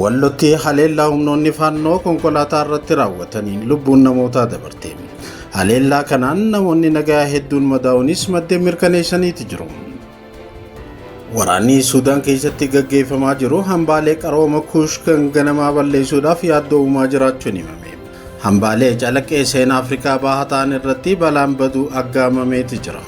Wallotti haleellaa humnoonni faannoo konkolaataa irratti raawwataniin lubbuun namootaa dabarte. Haleellaa kanaan namoonni nagaa hedduun madaa'uunis maddeen mirkaneessaniiti jiru. Waraanni Suudaan keessatti gaggeeffamaa jiru hambaalee qarooma kuush kan ganamaa balleessuudhaaf yaaddoo uumaa jiraachuun himame. Hambaalee calaqqee seenaa Afrikaa bahaa ta'an irratti balaan baduu aggaamameeti jira.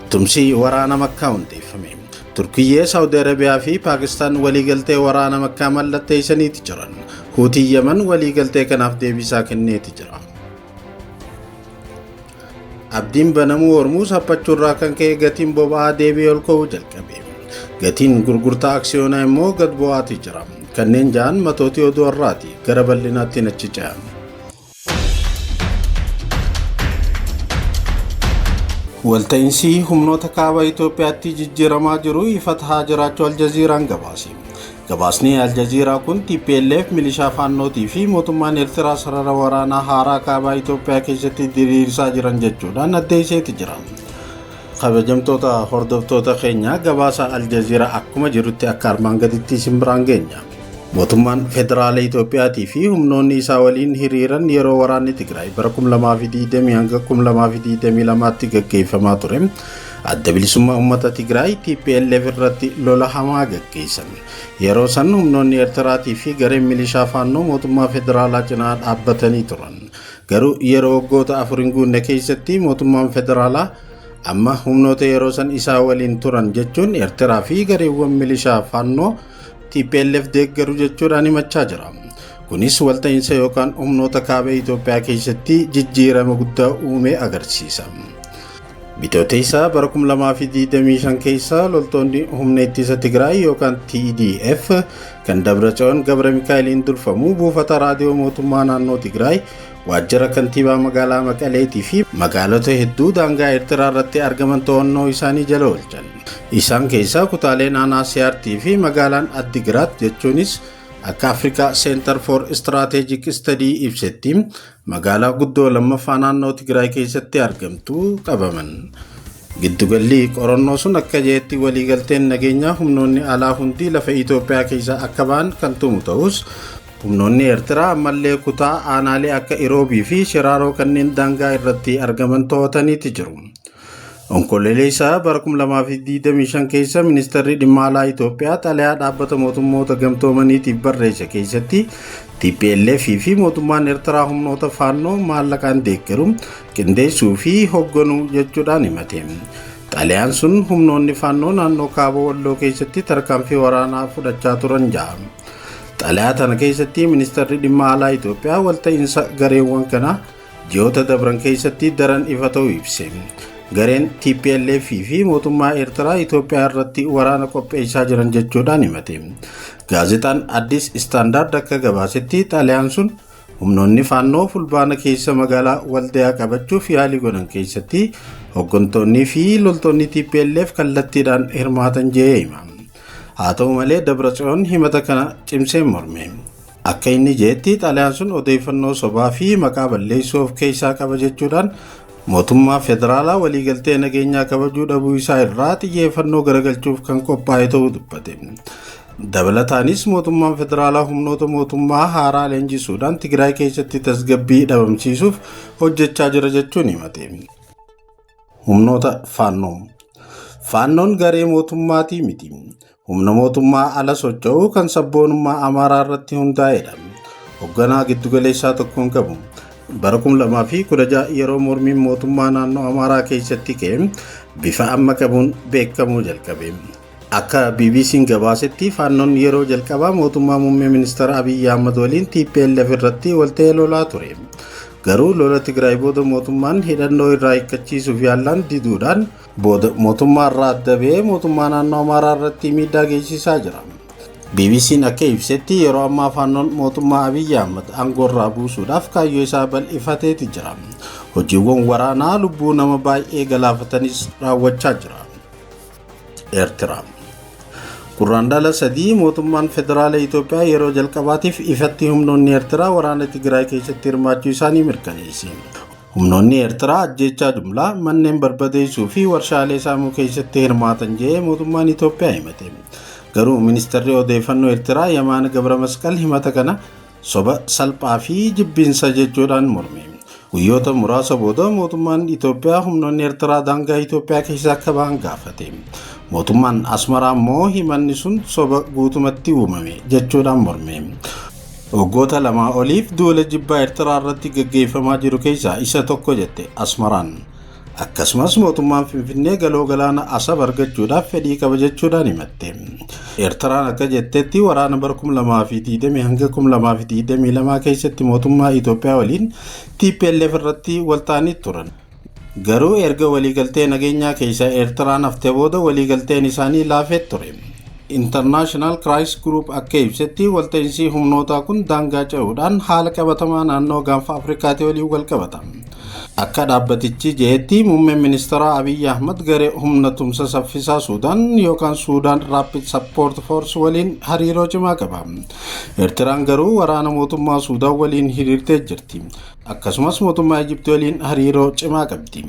Tumsi waraana Makkaa hundeeffame. Turkiyyee, Saawudi Arabiyaa fi Paakistaan waliigaltee waraana Makkaa mallatteessaniiti jiran. Huutiin Yaman waliigaltee kanaaf deebisaa kenneeti jira. Abdiin banamuu Hormuuz haphachuurraa kan ka'e gatiin boba'aa deebi'ee ol ka'uu jalqabe. Gatiin gurgurtaa aksiyoonaa immoo gad bu'aatii jira. Kanneen ja'an matootii oduu har'aati. Gara bal'inaatti nachi ce'a. Walta'insii humnoota kaaba Itoophiyaatti jijjiiramaa jiru ifa tahaa jiraachuu Aljaziiraan gabaase. Gabaasni Aljaziiraa kun TPLF milishaa faannootii fi mootummaan Eertiraa sarara waraanaa haaraa kaabaa Itoophiyaa keessatti diriirsaa jiran jechuudhaan addeesseeti jira. Kabajamtoota hordoftoota keenya gabaasa Aljaziiraa akkuma jirutti akka armaan gaditti isin biraan geenya. Mootummaan Federaala Itoophiyaatii fi humnoonni isaa waliin hiriiran yeroo waraanni Tigraay bara 2020 hanga 2022tti gaggeeffamaa ture adda bilisummaa uummata Tigraay TPLF irratti lola hamaa gaggeessan. Yeroo san humnoonni Eertiraatii fi gareen milishaa faannoo mootummaa federaalaa cinaa dhaabbatanii turan. Garuu yeroo waggoota afur hin guunne keessatti mootummaan federaalaa amma humnoota yeroo san isaa waliin turan jechuun Eertiraa fi gareewwan milishaa faannoo TPLF deeggaru jechuudhaan himachaa jira. Kunis walta'iinsa yookaan humnoota kaaba Itoophiyaa keessatti jijjiirama guddaa uume agarsiisa. Bitooteessaa bara 2025 keessa loltoonni humna ittisa Tigraay yookaan TDF kan Dabratsiyoon Gabra Mikaa'eliin durfamu buufata raadiyoo mootummaa naannoo Tigraay Waajjira Kantiibaa Magaalaa Maqaleetii fi magaalota hedduu daangaa Eertiraa irratti argaman to'annoo isaanii jala oolchan. Isaan keessaa kutaaleen aanaa Siyaartii fi magaalaan Addigiraat jechuunis akka Afrikaa Center for Strategic Study ibsetti magaalaa guddoo lammaffaa naannoo Tigraay keessatti argamtu qabaman. Giddugalli qorannoo sun akka jedhetti waliigalteen nageenyaa humnoonni alaa hundi lafa Itoophiyaa keessaa akka ba'an kan tumu ta'us Humnoonni Eertiraa ammallee kutaa aanaalee akka Iroobii fi Shiraaroo kanneen daangaa irratti argaman to'ataniiti jiru. Onkololeessa bara 2025 keessa Ministeerri Dhimma Alaa Itoophiyaa xalayaa dhaabbata mootummoota gamtoomaniitiif barreesse keessatti TPLF fi mootummaan Eertiraa humnoota faannoo maallaqaan deeggaru qindeessuu fi hoogganuu jechuudhaan himate. Xalayaan sun humnoonni faannoo naannoo kaaba walloo keessatti tarkaanfii waraanaa fudhachaa turan ja'a. Xalayaa tana keessatti ministeerri dhimma alaa Itoophiyaa walta'iinsa gareewwan kanaa ji'oota dabran keessatti daran ifa ta'uu ibse. Gareen TPLF fi mootummaa Eertiraa Itoophiyaa irratti waraana qopheessaa jiran jechuudhaan himate. Gaazexaan Addis Istaandaard akka gabaasetti xalayaan sun humnoonni faannoo fulbaana keessa magaalaa Waldayaa qabachuuf yaalii godhan keessatti hooggantoonnii fi loltoonni TPLF kallattiidhaan hirmaatan jedhee hima. Haa ta'u malee Dabratsiyoon himata kana cimsee morme. Akka inni jeetti xalayaan sun odeeffannoo sobaa fi maqaa balleessuu of keessaa qaba jechuudhaan mootummaa federaalaa waliigaltee nageenyaa kabajuu dhabuu isaa irraa xiyyeeffannoo garagalchuuf kan qophaa'e ta'uu dubbate. Dabalataanis mootummaan federaalaa humnoota mootummaa haaraa leenjisuudhaan Tigraay keessatti tasgabbii dhabamsiisuuf hojjechaa jira jechuun himate. Humnoota Faannoo Faannoon garee mootummaatii miti. Humna mootummaa ala socho'u kan sabboonummaa Amaaraa irratti hundaa'edha. Hogganaa giddugaleessaa tokko hin qabu. Bara 2016 yeroo mormiin mootummaa naannoo Amaaraa keessatti ka'e bifa amma qabuun beekamuu jalqabe. Akka BBC'n gabaasetti Faannoon yeroo jalqabaa mootummaa muummee ministeera Abiyyi Ahmad waliin TPLF irratti walta'ee lolaa ture. Garuu lola Tigraay booda mootummaan hidhannoo irraa hiikkachiisuuf yaallaan diduudhaan booda mootummaa irraa adda ba'ee mootummaa naannoo Amaaraa irratti miidhaa geessisaa jira. BBC'n akka ibsetti yeroo ammaa Faannoon mootummaa Abiyyi Ahmad aangoo irraa buusuudhaaf kaayyoo isaa bal'ifateeti jira. Hojiiwwan waraanaa lubbuu nama baay'ee galaafatanis raawwachaa jira. Eertiraa. Gurraandhala sadii mootummaan federaala Itoophiyaa yeroo jalqabaatiif ifatti humnoonni Eertiraa waraana Tigraay keessatti hirmaachuu isaanii mirkaneesse. Humnoonni Eertiraa ajjeechaa jumlaa manneen barbadeessuu fi warshaalee saamuu keessatti hirmaatan jedhee mootummaan Itoophiyaa himate. Garuu ministeerri odeeffannoo Eertiraa Yamaan Gabra Masqal himata kana soba salphaa fi jibbiinsa jechuudhaan morme. Guyyoota muraasa booda mootummaan Itoophiyaa humnoonni Eertiraa daangaa Itoophiyaa keessaa akka ba'an gaafate. Mootummaan Asmaraa immoo himanni sun soba guutumatti uumame jechuudhaan morme. Waggoota lamaa oliif duula jibbaa Eertiraa irratti gaggeeffamaa jiru keessaa isa tokko jette Asmaraan. Akkasumas mootummaan Finfinnee galoo galaana Asab argachuudhaaf fedhii qaba jechuudhaan himatte. Eertiraan akka jettetti waraana bara 2020 hanga 2022 keessatti mootummaa Itoophiyaa waliin TPLF irratti waltaanii turan. Garuu erga waliigaltee nageenyaa keessaa Eertiraan haftee booda waliigalteen isaanii laafee ture. International Crisis Group akka ibsetti walta'insii humnootaa kun daangaa ce'uudhaan haala qabatamaa naannoo gaanfa Afrikaatii waliin wal qabata. Akka dhaabbatichi je'etti muummeen ministaraa Abiy Ahmad garee humna tumsa saffisaa Suudaan yookaan Suudaan Rapid Support Force waliin hariiroo cimaa qaba. Ertiraan garuu waraana mootummaa Suudaan waliin hiriirtee jirti. Akkasumas mootummaa Ijipti waliin hariiroo cimaa qabdi.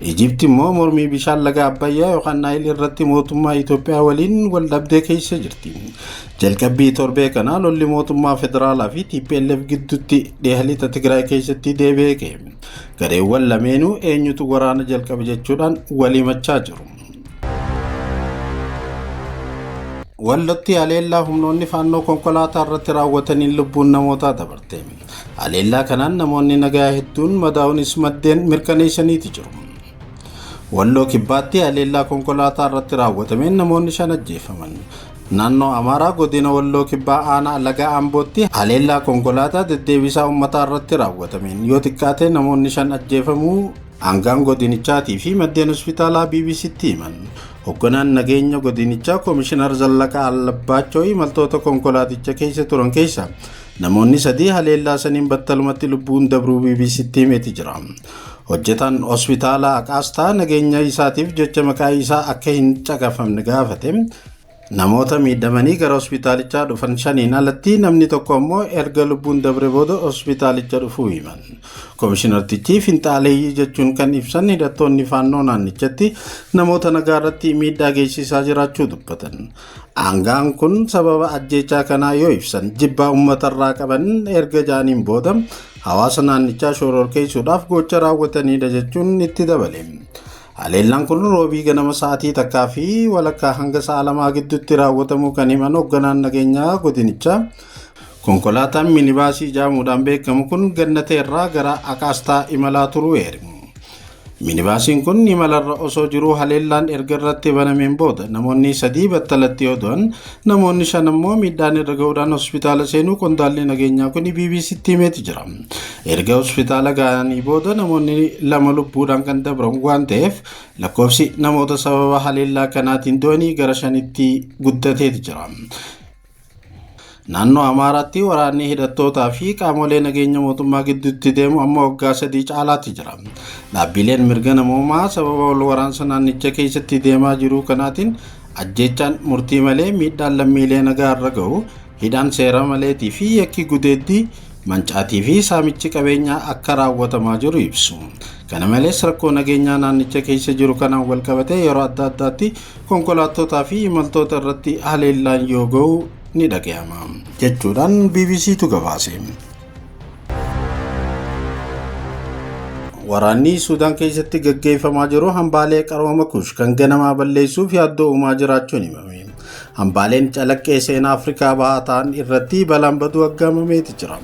Ijipti immoo mormii bishaan laga Abbayyaa yookaan Naayil irratti mootummaa Itoophiyaa waliin wal dhabdee keessa jirti. Jalqabbii torbee kanaa lolli mootummaa federaalaa fi TPLF gidduutti dhiha lixa Tigraay keessatti deebi'ee ka'e. Gareewwan lameenuu eenyutu waraana jalqabe jechuudhaan wal himachaa jiru. Wallotti haleellaa humnoonni faannoo konkolaataa irratti raawwataniin lubbuun namootaa dabarte. Haleellaa kanaan namoonni nagaa hedduun madaa'uunis maddeen mirkaneessaniiti jiru. Walloo Kibbaatti haleellaa konkolaataa irratti raawwatameen namoonni shan ajjeefaman. Naannoo Amaaraa godina Walloo Kibbaa aanaa Laga Ambootti haleellaa konkolaataa deddeebisaa uummataa irratti raawwatameen yoo xiqqaate namoonni shan ajjeefamuu aangaan godinichaatii fi maddeen hospitaalaa BBCtti himan. Hogganaan nageenya godinichaa Koomishinar Zallaqaa Allabbaachoo imaltoota konkolaaticha keessa turan keessa namoonni sadii haleellaa saniin battalumatti lubbuun dabruu BBCtti himeeti jira. Hojjetaan hospitaala Aqaastaa nageenya isaatiif jecha maqaa isaa akka hin caqafamne gaafate. Namoota miidhamanii gara hospitaalichaa dhufan shaniin alatti namni tokko ammoo erga lubbuun dabre booda hospitaalicha dhufuu himan. Komishinartichi finxaaleeyyii jechuun kan ibsan hidhattoonni faannoo naannichatti namoota nagaa irratti miidhaa geessisaa jiraachuu dubbatan. Aangaan kun sababa ajjeechaa kanaa yoo ibsan jibbaa uummatarraa qaban erga jaaniin booda hawaasa naannichaa shororkeessuudhaaf gocha raawwatanidha jechuun itti dabale. Haleellaan kun roobii ganama sa'aatii takkaa fi walakkaa hanga sa'a lamaa gidduutti raawwatamuu kan himan hoogganaan nageenyaa godinichaa konkolaataan minibaasii jaamuudhaan beekamu kun gannateerraa gara akaastaa imalaa turuu eeru. Minibaasiin kun imalarra osoo jiruu haleellaan erga irratti banameen booda namoonni sadii battalatti yoo du'an namoonni shan ammoo miidhaan irra ga'uudhaan hospitaala seenuu qondaalli nageenyaa kun BBC'tti himeeti jira. Erga hospitaala ga'anii booda namoonni lama lubbuudhaan kan dabran waan ta'eef lakkoofsi namoota sababa haleellaa kanaatiin du'anii gara shanitti guddateeti jira. Naannoo Amaaraatti waraanni hidhattootaa fi qaamolee nageenya mootummaa gidduutti deemu amma waggaa sadii caalaatti jira. Dhaabbileen mirga namoomaa sababa wal waraansa naannicha keessatti deemaa jiruu kanaatiin ajjeechaan murtii malee miidhaan lammiilee nagaa irra ga'u, hidhaan seera maleetii fi yakki gudeeddii mancaatii fi saamichi qabeenyaa akka raawwatamaa jiru ibsu. Kana malees rakkoo nageenyaa naannicha keessa jiru kanaan walqabatee yeroo adda addaatti konkolaattootaa fi imaltoota irratti haleellaan yoo ga'u ni dhaga'ama jechuudhaan BBCtu gabaase. Waraanni Suudaan keessatti gaggeeffamaa jiru hambaalee qarooma kuush kan ganamaa balleessuuf yaaddoo uumaa jiraachuun himame. Hambaaleen calaqqee seenaa Afrikaa bahaa ta'an irratti balaan baduu aggaamameeti jira.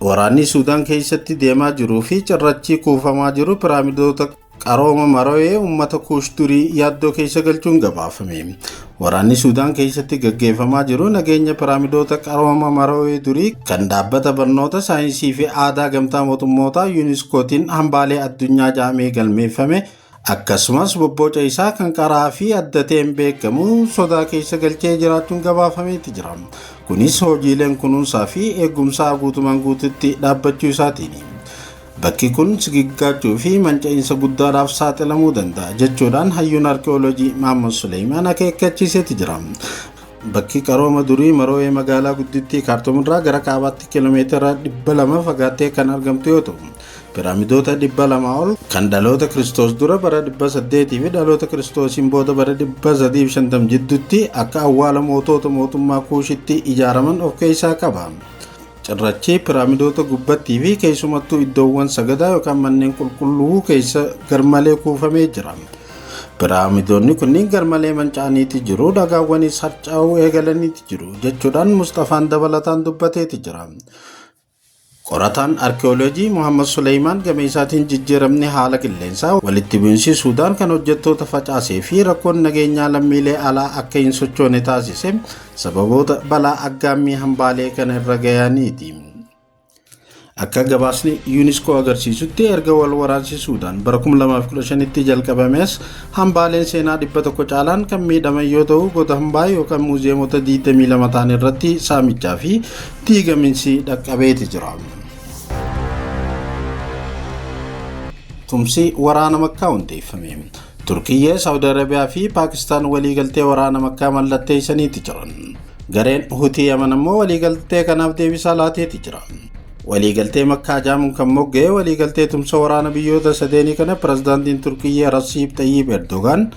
Waraanni Suudaan keessatti deemaa jiruu fi cirrachii kuufamaa jiru piraamidoota Qarooma Maroyee uummata Kuush durii yaaddoo keessa galchuun gabaafame. Waraanni Suudaan keessatti gaggeeffamaa jiru nageenya piraamidoota qarooma Maroyee durii kan dhaabbata barnoota saayinsii fi aadaa gamtaa mootummootaa yuuniskootiin hambaalee addunyaa jaamee galmeeffame akkasumas bobbooca isaa kan qaraa fi adda ta'een beekamu sodaa keessa galchee jiraachuun gabaafameeti jira. Kunis hojiileen kunuunsaa fi eegumsaa guutumaan guututti dhaabbachuu isaatiini. Bakki kun sigiggaachuu fi manca'iinsa guddaadhaaf saaxilamuu danda'a jechuudhaan hayyuun arki'oolojii Maammoon Suleeymaan akeekkachiiseeti jira. Bakki qarooma durii Maroo'ee magaalaa guddittii Kaartum irraa gara kaabaatti kiiloomeetira 200 fagaattee kan argamtu yoo ta'u, piraamidoota 200 ol kan dhaloota Kiristoos dura bara 800 fi dhaloota Kiristoosiin booda bara 350 jidduutti akka awwaala mootoota mootummaa Kuushitti ijaaraman of keessaa qaba. Cirrachi piraamidoota gubbattii fi keessumattuu iddoowwan sagadaa yookaan manneen qulqulluu keessa garmalee kuufamee jira. Piraamidoonni kunniin garmalee manca'aniiti jiru, dhagaawwanis harcaa'uu eegalaniiti jiru jechuudhaan Musxafaan dabalataan dubbateeti jira. Qorataan arkiyooloojii Muhammad Suleeymaan gama isaatiin jijjiiramni haala qilleensaa walitti bu'iinsi Suudaan kan hojjettoota facaasee fi rakkoon nageenyaa lammiilee alaa akka hin sochoone taasise Sababoota balaa aggaammii hambaalee kana irra gayaniiti. Akka gabaasni yuuniskoo agarsiisutti erga wal waraansi Suudaan bara 2015tti jalqabamees hambaaleen seenaa 100 caalaan kan miidhaman yoo ta'u goota hambaa yookaan muuziyeemota 22 ta'an irratti saamichaa fi diigaminsi dhaqqabeeti jira. Tumsi waraana makkaa hundeeffame. Turkiyyee, Saawudi Arabiyaa fi Paakistaan waliigaltee waraana Makkaa mallatteessaniiti jiran. Gareen Hutii Yaman ammoo waliigaltee kanaaf deebisaa laateeti jira. Waliigaltee Makkaa jaamuun kan mogga'e waliigaltee tumsa waraana biyyoota sadeenii kana pirezidaantiin Turkiyyee Rasiib Xayyiib Erdogaan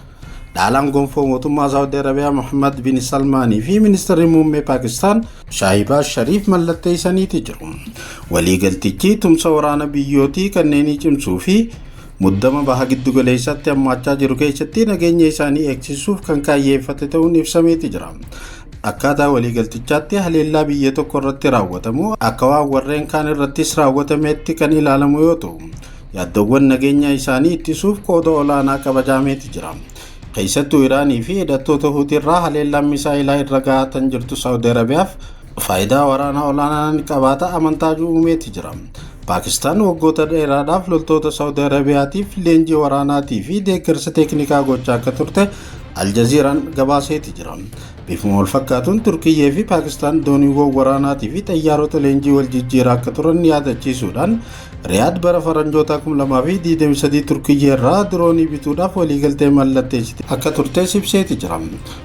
dhaalaan gonfoo mootummaa Saawudi Arabiyaa Mohammad bin Salmaanii fi ministeerri muummee Paakistaan Shaahibaaz Shariif mallatteessaniiti jiru. Waliigaltichi tumsa waraana biyyootii kanneenii cimsuu fi Muddama baha giddugaleessaatti hammaachaa jiru keessatti nageenya isaanii eegsisuuf kan kaayyeeffate ta'uun ibsameeti jira. Akkaataa waliigaltichaatti haleellaa biyya tokko irratti raawwatamu akka waan warreen kaan irrattis raawwatameetti kan ilaalamu yoo ta'u, yaaddowwan nageenya isaanii ittisuuf qooda olaanaa qabajaameeti jira. Keessattuu Iraanii fi hidhattoota Huutiirraa haleellaan misaa'elaa irra ga'aa tan jirtu Saawudi Arabiyaaf Faayidaa waraanaa olaanaa ni qabaata amantaa jiru uumeeti jira. Paakistaan waggoota dheeraadhaaf loltoota Saawudi Arabiyaatiif leenjii waraanaatii fi deeggarsa teeknikaa gochaa akka turte Aljaziiraan gabaaseeti jira. Bifuma wal fakkaatuun Turkiyyee fi Paakistaan dooniiwwan waraanaatii fi xayyaarota leenjii wal jijjiiraa akka turan yaadachiisuudhaan Riyaad bara faranjootaa 2023 Turkiyyee irraa diroonii bituudhaaf waliigaltee mallatteessite akka turtes ibseeti jira.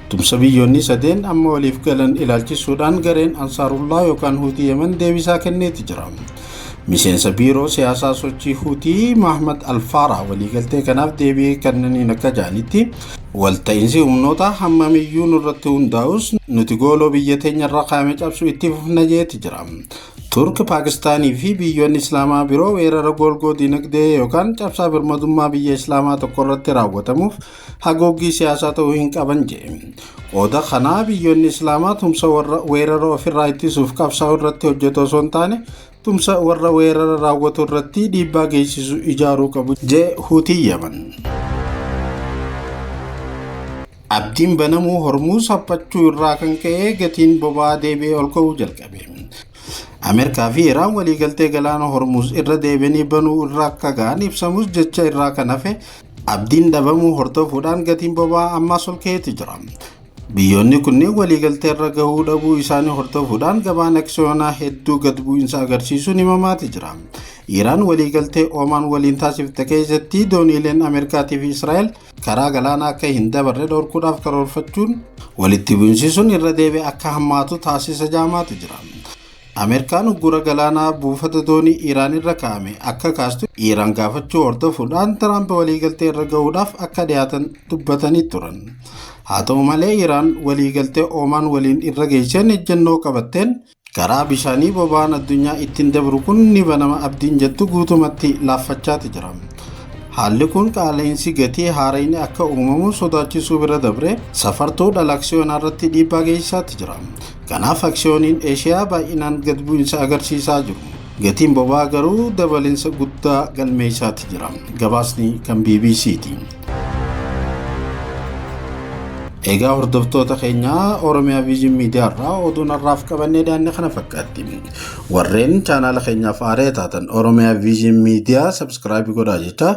Tumsa biyyoonni sadeen amma waliif galan ilaalchisuudhaan gareen Ansaarullaa yookaan Huutii Yemen deebisaa kenneeti jira. Miseensa biiroo siyaasaa sochii Huutii Mahmad Alfaaraa waliigaltee kanaaf deebii kennaniin akka jedhanitti walta'iinsi humnoota hammamiyyuu nurratti hundaa'us nuti gooloo biyya teenyarra kaa'ame cabsuu itti fufna jeeti jira. Turk, Paakistaanii fi biyyoonni Islaamaa biroo weerara goolgoo dinagdee yookaan cabsaa birmadummaa biyya Islaamaa tokko irratti raawwatamuuf hagooggii siyaasaa ta'uu hin qaban jedhe. Qooda kanaa biyyoonni Islaamaa tumsa warra weerara ofirraa ittisuuf qabsaa'u irratti hojjetu osoo hin taane tumsa warra weerara raawwatu irratti dhiibbaa geessisu ijaaruu qabu jee Huutii Yaman. Abdiin banamuu Hormuuz haphachuu irraa kan ka'e gatiin boba'aa deebi'ee ol ka'uu jalqabe. Ameerikaa fi Iraan waliigaltee galaana Hormuuz irra deebi'anii banuu irra akka ga'an ibsamus jecha irraa kan hafe Abdiin dhabamuu hordofuudhaan gatiin boba'aa ammaas ol ka'eeti jira. Biyyoonni kunneen waliigaltee irra gahuu dhabuu isaanii hordofuudhaan gabaan aksiyoonaa hedduu gad bu'insa agarsiisuun himamaati jira. Iiraan waliigaltee Oomaan waliin taasifte keessatti dooniileen Ameerikaatii fi Israa'el karaa galaanaa akka hin dabarre dhorkuudhaaf karoorfachuun walitti bu'insisuun irra deebi'ee akka hammaatu taasisa jaamaati jira. Ameerikaan uggura galaanaa buufata doonii Iraan irra kaa'ame akka kaastu Iraan gaafachuu hordofuudhaan Tiraamp waliigaltee irra ga'uudhaaf akka dhiyaatan dubbatanii turan. Haa ta'u malee Iraan waliigaltee Oomaan waliin irra geesseen ejjennoo qabatteen karaa bishaanii boba'aan addunyaa ittiin dabru kun ni banama abdiin jettu guutumatti laaffachaati jira. Haalli kun qaala'insi gatii haarayni akka uumamu sodaachisuu bira dabree safartuu dhala aksiyoonaa irratti dhiibbaa geessisaatti jira. Kanaaf aksiyooniin Eeshiyaa baay'inaan gad bu'insa agarsiisaa jiru. Gatiin boba'aa garuu dabalinsa guddaa galmeessaati jira. Gabaasni kan bbc ti. Egaa hordoftoota keenyaa Oromiyaa Viizhin Miidiyaa irraa oduun har'aaf qabannee daanne kana fakkaatti. Warreen chaanaala keenyaaf haaree taatan Oromiyaa Viizhin Miidiyaa sabskiraayib godhaa jecha